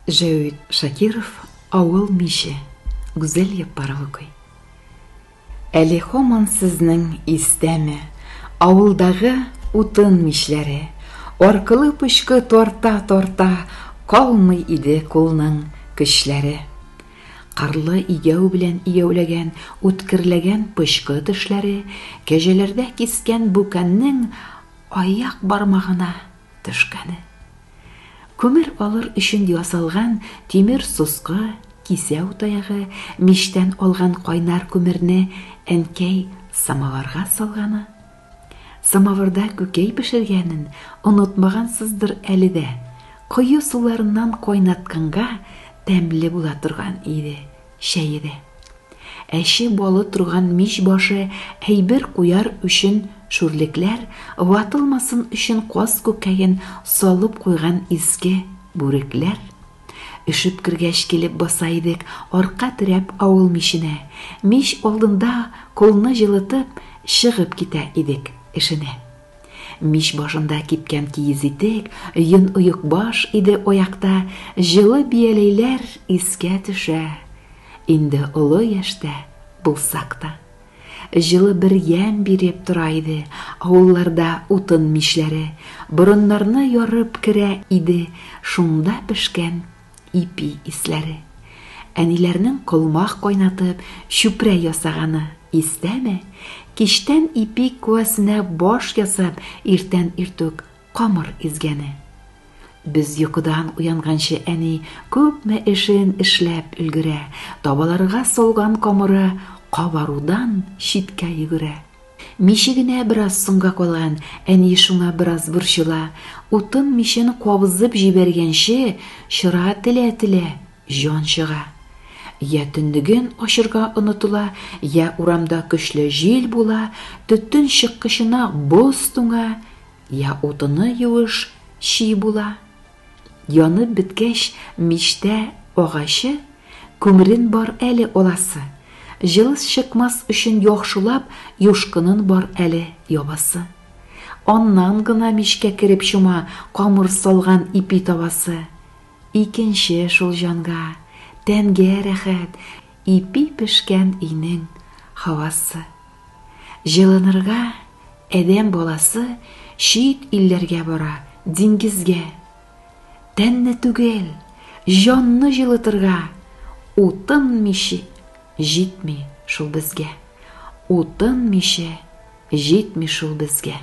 Җәүит Шакиров Авыл миче Гүзәл Яппаров укый. Әле һаман сезнең истәме авылдагы утын мичләре, аркылы пычкы тарта-тарта калмый иде кулның көчләре. Карлы игәү белән игәүләгән үткерләгән пычкы тешләре кәҗәләрдә кискән бүкәннең аяк бармагына төшкәне. Күмер алыр өчен ясалган тимер соска, кисәү таягы, мичтән алган кайнар күмерне әнкәй самоварга салганы. Самоварда күкәй пешергәнен онытмагансыздыр әле дә. Кое суларыннан кайнатканга тәмле була торган иде. Чәе дә. Әче балы торган мич башы әйбер куяр өчен шүрлекләр ватылмасын өчен каз күкәен салып куйган изге бүрекләр. Өшеп кергәч килеп баса идек арка терәп авыл миченә. Мич алдында кулны җылытып, чыгып китә идек эшенә. Мич башында кипкән киез итек, йон оекбаш иде аякта, җылы бияләйләр искә төшә. Инде олы яшьтә булсак та. Җылы бер ямь биреп тора иде, авылларда утын мичләре, борыннарны ярып керә иде, шунда пешкән Ипи исләре. Әниләрнең колмак кайнатып, чүпрә ясаганы, истәме? Кичтән ипи куәсенә баш ясап, иртән иртүк камыр изгәне. Без йокыдан уянганчы әни күпме эшен эшләп өлгерә, табаларга салган камыры кабарудан читкә йөгерә. Миче генә бераз соңга калган, әни шуңа бераз борчыла. Утын мичен кабызып җибәргәнче чыра телә-телә җан чыга. Йә төнлеген ачырга онытыла, йә урамда көчле җил була, төтен чыккычына боз туңа, йә утыны юеш, чи була. Янып беткәч, мичтә агачы, күмерен бар әле аласы, җылыс чыкмас өчен яхшылап юшкынын бар әле ябасы. Аннан гына мичкә кереп чума камыр салган ипи табасы. Икенче шул җанга, тәнгә рәхәт, ипи пешкән өйнең һавасы. Җылынырга адәм баласы чит илләргә бара, диңгезгә. Тәнне түгел, җанны җылытырга утын миче җитми шул безгә. Утын миче җитми шул безгә.